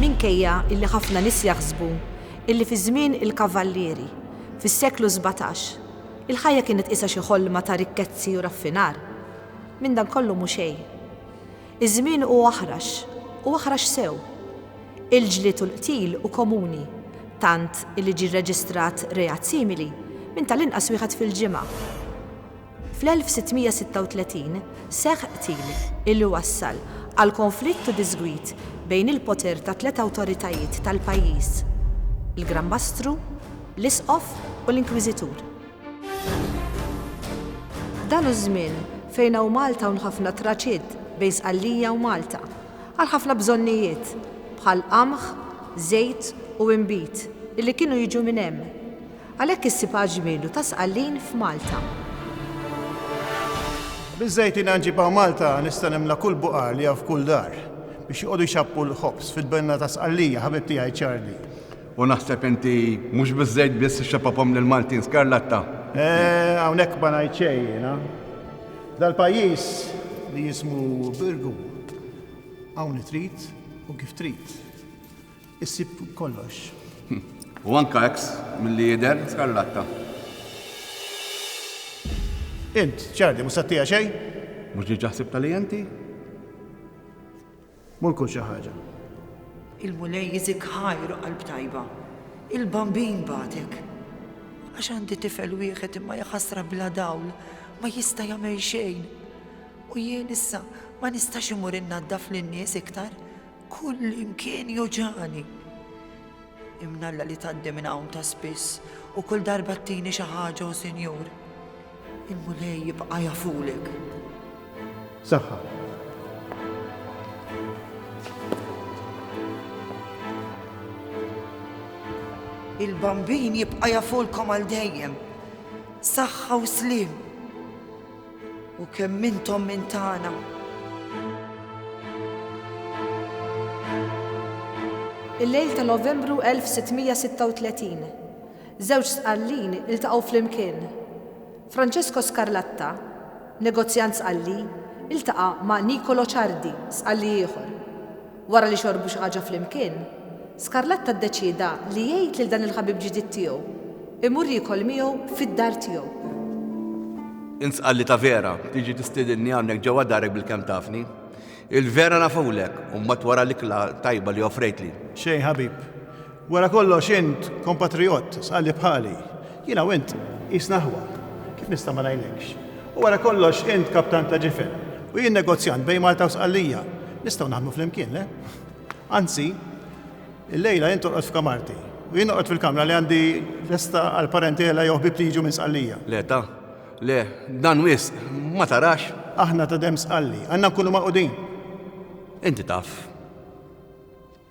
Minkejja illi ħafna nies jaħsbu illi fi żmien il-Kavallieri, fis-seklu sbatax, il-ħajja kienet qisha xi ħolma ta' rikkezzi u raffinar, minn dan kollu mhu xejn. Iż-żmien hu aħrax, u aħrax sew. Il-ġlied u l-qtil hu komuni, tant illi ġie rreġistrat reat simili minn tal-inqas wieħed fil-ġimgħa. Fl-1636 seħħ qtil illi wassal għal konflitt u diżgwid bejn il-poter tat-tliet awtoritajiet tal-pajjiż, il-Gran Mastru, l-Isqof u l-Inkwiżitur. Dan hu ż-żmien fejn hawn Malta hawn ħafna traċiet bejn Sqallija u Malta għal ħafna bżonnijiet bħal qamħ, żejt u inbid illi kienu jiġu minn hemm. Għalhekk issib għal ġmielu ta' Sqallin f'Malta. Biż-żejt jiena nġibha u Malta nista' nimla kull buqar li hawn f'kull dar biex joqogħdu jxapphu l-ħobż fil-benna ta' Sqallija, ħabib tiegħi Charlie. U naħseb inti mhux biż-żejt biss ixxappapom lill-Maltin skarlatta. Eh, hawnhekk ma ngħid xejn jiena. F'dal-pajjiż li jismu Birgu hawn li trid u kif trid. Issib kollox. U anka eks milli jidher skarlatta. Int, ċardi, mhux sattija xejn? Mhux diġà ħsibta li inti? Mur kul xi ħaġa. Il-Mulej jiżik ħajr qalb tajba. Il-Bambin bagħtek. Għax għandi tifel wieħed imma jaħasra bla dawl, ma jista' jagħmel xejn. U jien issa ma nistax imur innaddaf lin-nies iktar Kull imkien joġani. Imnalla li tgħaddi minn hawn ta' spiss u kull darba ttini xi ħaġa u sinjur. Il-Mulej jibqa' jafulek. Saħħa. Il-bambin jibqa' jafulkom għal dejjem. Saħħa u slim. U kemm intom minn tagħna. Il-lejl ta' Novembru 1636, żewġ sqallin iltaqgħu flimkien. Francesco Scarlatta, negozjant sqalli, iltaqa' ma' Nicolo Ciardi, sqalli ieħor. Wara li xorbu xi ħaġa flimkien, Scarlatta ddeċieda li jgħid lil dan il-ħabib ġdid tiegħu imur jiekol miegħu fid-dar tiegħu. Int sqalli ta' Vera, tiġi tistiedinni hawnhekk ġewwa darek bilkemm tafni. Il-Vera nafulek, u mbagħad wara l-ikla tajba li offrejtli. Xejn ħabib. Wara kollox int kompatrijott, sqalli bħali. Jiena u int qisna ħwa. Kif nista' ma ngħinekx? U wara kollox int kaptan ta' ġifen u jien negozjant bejn Malta u Sqallija. Nistgħu naħdmu flimkien, le? Anzi, illejla int torqod f'kamarti u jien noqgħod fil-kamra li għandi lesta għal parentela jew ħbieb li jiġu minn Sqallija. Le ta, le, dan wisq, ma tarax? Aħna ta' demm Sqalli, għandna nkunu magħqudin. Inti taf.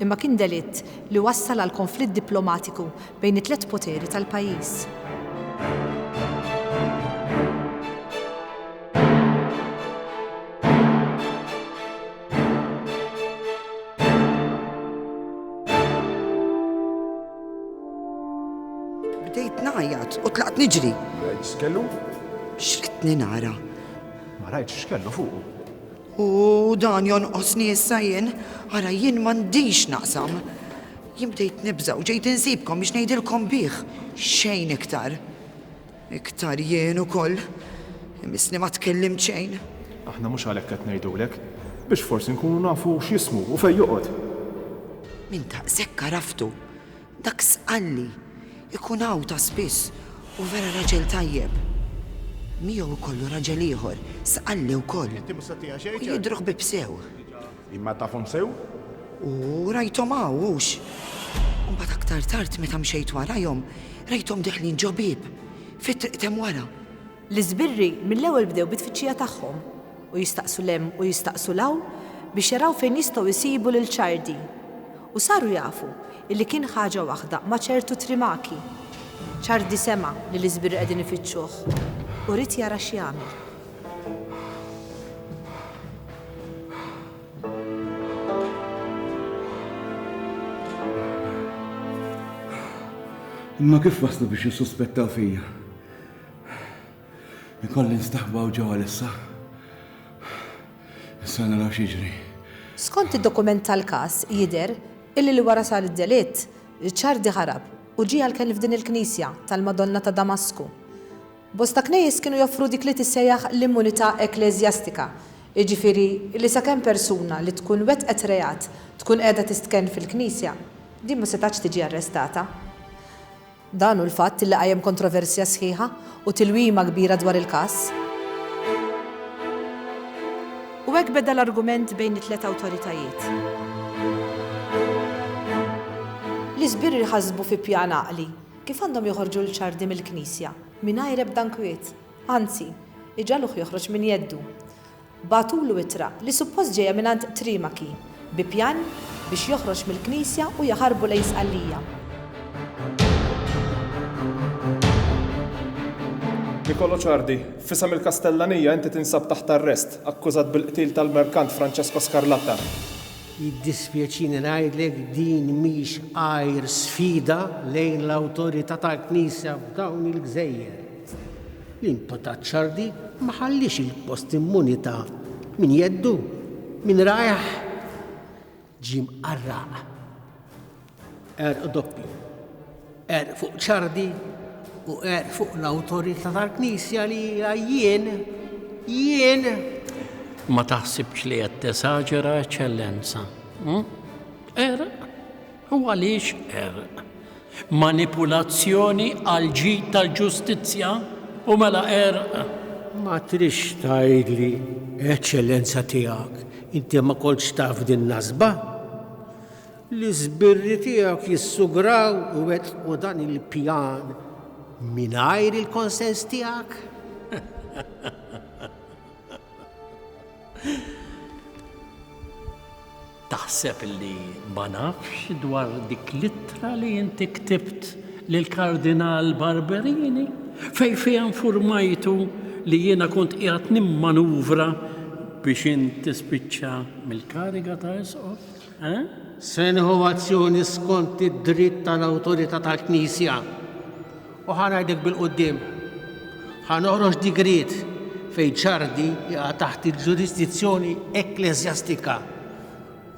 imma kien delitt li wassal għal konflitt diplomatiku bejn it-tliet poteri tal-pajjiż. Bdejt ngħajjat u tlaqt niġri. X'kellu? X'ridtni nara? Ma rajtx x'kellu fuqu. U dan jonqosni issa jien? Ara jien m'għandix naqsam. Jien bdejt nibża' u ġejt insibkom biex ngħidilkom bih, xejn iktar. Iktar jien ukoll. Imissni ma tkellimt xejn. Aħna mhux għalhekk qed ngħidulek. Biex forsi nkunu nafu x'jismu u fejn joqgħod. Minn daqshekk għaraftu. Dak Sqalli jkun hawn ta' spiss u vera raġel tajjeb. Miegħu jkollu raġel ieħor, Sqalli wkoll. U jidhru ħbieb sew. Imma tafhom sew? U rajthom hawn, hux? U mbagħad aktar tard meta mxejt warajhom, rajthom deħlin ġo bieb, fit-triq t'hemm wara. L-iżbirri mill-ewwel bdew bit-tfittxija tagħhom u jistaqsu 'l hemm u jistaqsu 'l hawn biex jaraw fejn jistgħu jsibu lil Ċardi. U saru jafu illi kien ħaġa waħda ma' ċertu Trimaki. Ċardi sema' li l-iżbirri qegħdin ifittxuh u ried jara x'jagħmel. Imma kif waslu biex jissuspettaw fija? Ikolli nstaħba u ġewwa lissa. Issa naraw x'jiġri. Skont id-dokument tal-każ jidher illi li wara sar id-delitt, Ricciardi ħarab u ġie għall-kenn f'din il-knisja tal-Madonna ta' Damasku. Bosta knejjes kienu joffru dik li tissejjaħ l-immunità ekkleżjastika, jiġifieri li sakemm persuna li tkun wettqet reat tkun qiegħda tistkenn fil-knisja, din ma setgħetx tiġi arrestata. Dan hu l-fatt li qajjem kontroversja sħiħa u tilwima kbira dwar il-każ. U hekk beda l-argument bejn it-tliet awtoritajiet. L-isbirri jħassbu fi pjan għaqli, kif għandhom joħorġu lil Ciardi mill-knisja, mingħajr ebda inkwiet. Anzi, iġagħluh joħroġ minn jeddu. Bagħtulu ittra li suppost ġejja mingħand Trimachi bi pjan biex joħroġ mill-Knisja u jaħarbu lejn Sqallija. Nicolo Ciardi, F'isem il-Kastellanija inti tinsab taħt arrest, akkużat bil-qtil tal-merkant Francesco Scarlatta. Jiddispjaċini ngħidlek din mhix għajr sfida lejn l-awtorità tal-Knisja f'dawn il-gżejjer. L-imputat Ciardi ma ħalliex il-post immuni ta' min jeddu, min rajh ġie mqarraq. Għerq doppju. Għerq fuq Ciardi u għerq fuq l-awtorità tal-Knisja li hija jien, jien! Ma taħsibx li qed tesaġera, Eċċellenza. Hm? Għerq? U għaliex qerq? Manipulazzjoni għall-ġid tal-ġustizzja? U mela qerq? Ma tridx tgħidli, Eċċellenza Tiegħek, inti ma kontx taf din nasba? L-iżbirri tiegħek jissugraw u wettqu dan il-pjan mingħajr il-konsens tiegħek? Taħseb li ma nafx dwar dik l-ittra li inti ktibt lil Kardinal Barberini fej fiha informajtu li jiena kont qiegħed nimmanuvra biex int tispiċċa mill-kariga ta' isqof? Eh? Se azzjoni skont id-dritt tal-awtorità tal-Knisja. U ħa ngħidlek bil-quddiem, ħa noħroġ digriet fejn Ċardi jaqa' taħt il-ġurisdizzjoni ekkleżjastika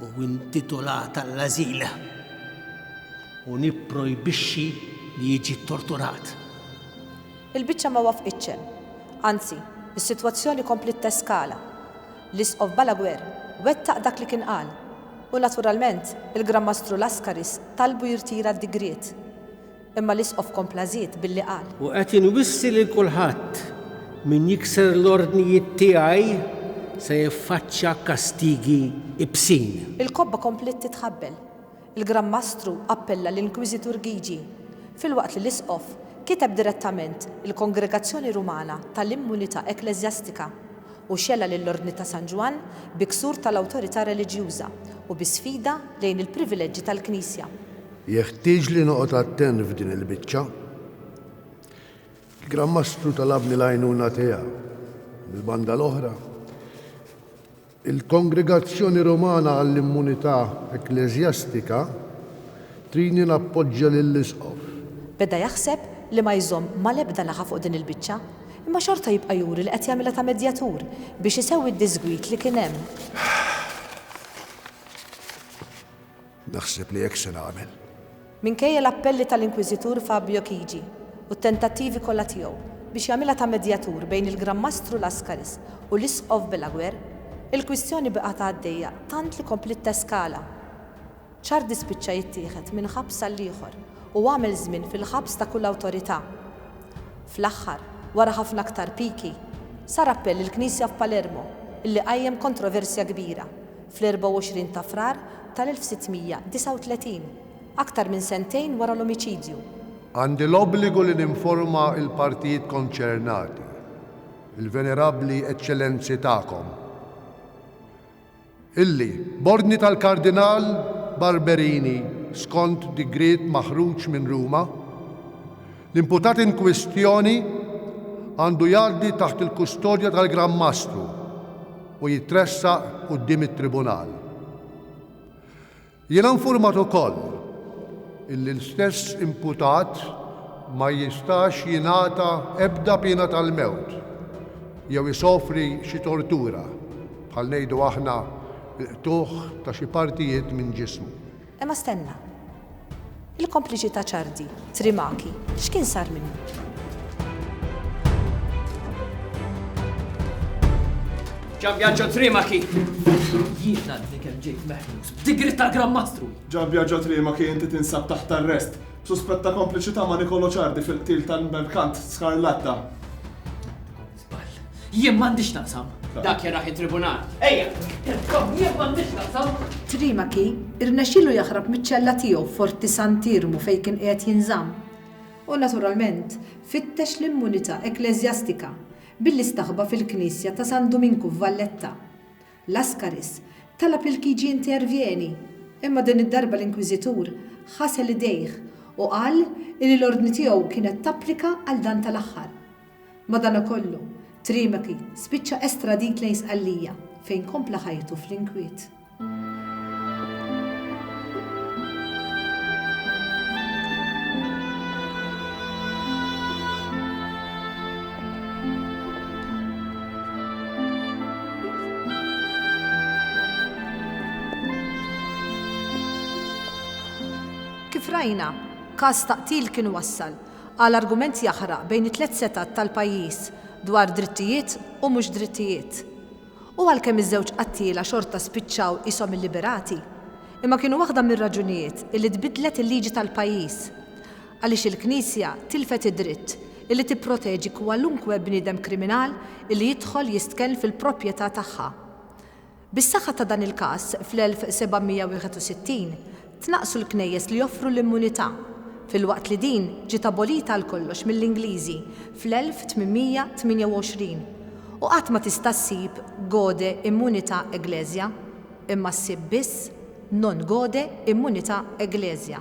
u intitolat għall-ażil u nipprojbixxi li jiġi ttorturat. Il-biċċa ma waffqitx hemm. Anzi, is-sitwazzjoni kompliet teskala. L-Isqof Balaguer wettaq dak li kien qal u naturalment il-Gran Mastru Laskaris talbu jirtira d-digriet. Imma l-Isqof kompla żied billi qal. U qed inwissi lil kulħadd, min jikser l-ordnijiet tiegħi se jiffaċċja kastigi ibsin. Il-kobba kompliet titħabbel. Il-Gran Mastru appella l-Inkwiżitur Gygi, filwaqt li l-Isqof kiteb direttament il-Kongregazzjoni Rumana tal-Immunità Ekkleżjastika u xela lill-Ordni ta' San Ġwann bi ksur tal-awtorità reliġjuża u bi sfida lejn il-privileġġi tal-Knisja. Jeħtieġli noqgħod attent f'din il-biċċa. Il-Gran Mastru talabni l-għajnuna tiegħu. Mill-banda l-oħra, il-Kongregazzjoni Rumana għall-Immunità Ekkleżjastika tridni nappoġġja lill-Isqof. Beda jaħseb li ma jżomm mal-ebda naħa fuq din il-biċċa, imma xorta jibqa' juri li qed jagħmilha ta' medjatur biex isewwi d-diżgwid li kien hemm. Naħseb li hekk se nagħmel. Minkejja l-appelli tal-Inkwiżitur Fabio Chigi u t-tentattivi kollha tiegħu biex jagħmilha ta' medjatur bejn il-Gran Mastru Lascaris u l-Isqof Belaguer, il-kwistjoni bqgħet għaddejja tant li kompliet teskala. Ciardi spiċċa jittieħed minn ħabs għall-ieħor u għamel żmien fil-ħabs ta' kull awtorità. Fl-aħħar, wara ħafna aktar piki, sar appell lill-Knisja f'Palermo, illi qajjem kontroversja kbira, fl-24 ta' Frar tal-1639, aktar minn sentejn wara l-omiċidju. Għandi l-obbligu li ninforma l-partijiet konċernati, il-Venerabbli Eċċellenzi tagħkom, illi, b'ordni tal-Kardinal Barberini skont digriet maħruġ minn Ruma, L-imputat inkwistjoni għandu jgħaddi taħt il-kustodja tal-Gran Mastru u jitressaq quddiem it-Tribunal. Jiena infurmat ukoll illi l-istess imputat ma jistax jingħata ebda piena tal-mewt jew isofri xi tortura, bħal ngħidu aħna, il-qtugħ ta' xi partijiet minn ġismu. Imma stenna. Il-kompliċi ta' Ciardi, Trimachi, x'kien sar minnu? Gianbiagio Trimachi! Jien għadni kemm ġejt meħlus b'digrit tal-Gran Mastru! Gianbiagio Trimachi inti tinsab taħt arrest b'suspett ta' kompliċità ma' Nicolo Ciardi fil-qtil tal-merkant Scarlatta. Żball. Jien m'għandi x'naqsam. Dak jaraħ it-tribunal. Ejja, telkom jien m'għandi x'naqsam. Trimachi rnexxielu jaħrab miċ-ċella tiegħu f'Forti Sant'Iermu fejn kien qiegħed jinżamm. U naturalment fittex l-immunità ekkleżjastika billi staħba fil-knisja ta' San Duminku f'Valletta. Lascaris talab li l-KG jintervjeni, imma din id-darba l-Inkwiżitur ħasel idejh u qal li l-ordni tiegħu kienet tapplika għal dan tal-aħħar. Madanakollu, Trimacy spiċċa estradit lejn Sqallija fejn kompla ħajtu fl-inkwiet. Kif rajna, każ ta' qtil kien wassal qal argument jaħraq bejn it-tliet setgħat tal-pajjiż dwar drittijiet u mhux drittijiet. U għalkemm iż-żewġ qattiela xorta spiċċaw qishom illiberati, imma kienu waħda mir-raġunijiet illi tbiddlet il-liġi tal-pajjiż għaliex il-Knisja tilfet id-dritt illi tipproteġi kwalunkwe bniedem kriminal illi jidħol jistkenn fil-propjetà tagħha. Bis-saħħa ta' dan il-każ, fl-1761, tnaqqsu l-knejjes li joffru l-immunità, filwaqt li din ġiet abolita għal kollox mill-Ingliżi fl-1828, u qatt ma tista' ssib gaude immunità ecclesia, imma ssib biss non gaude immunità ecclesia.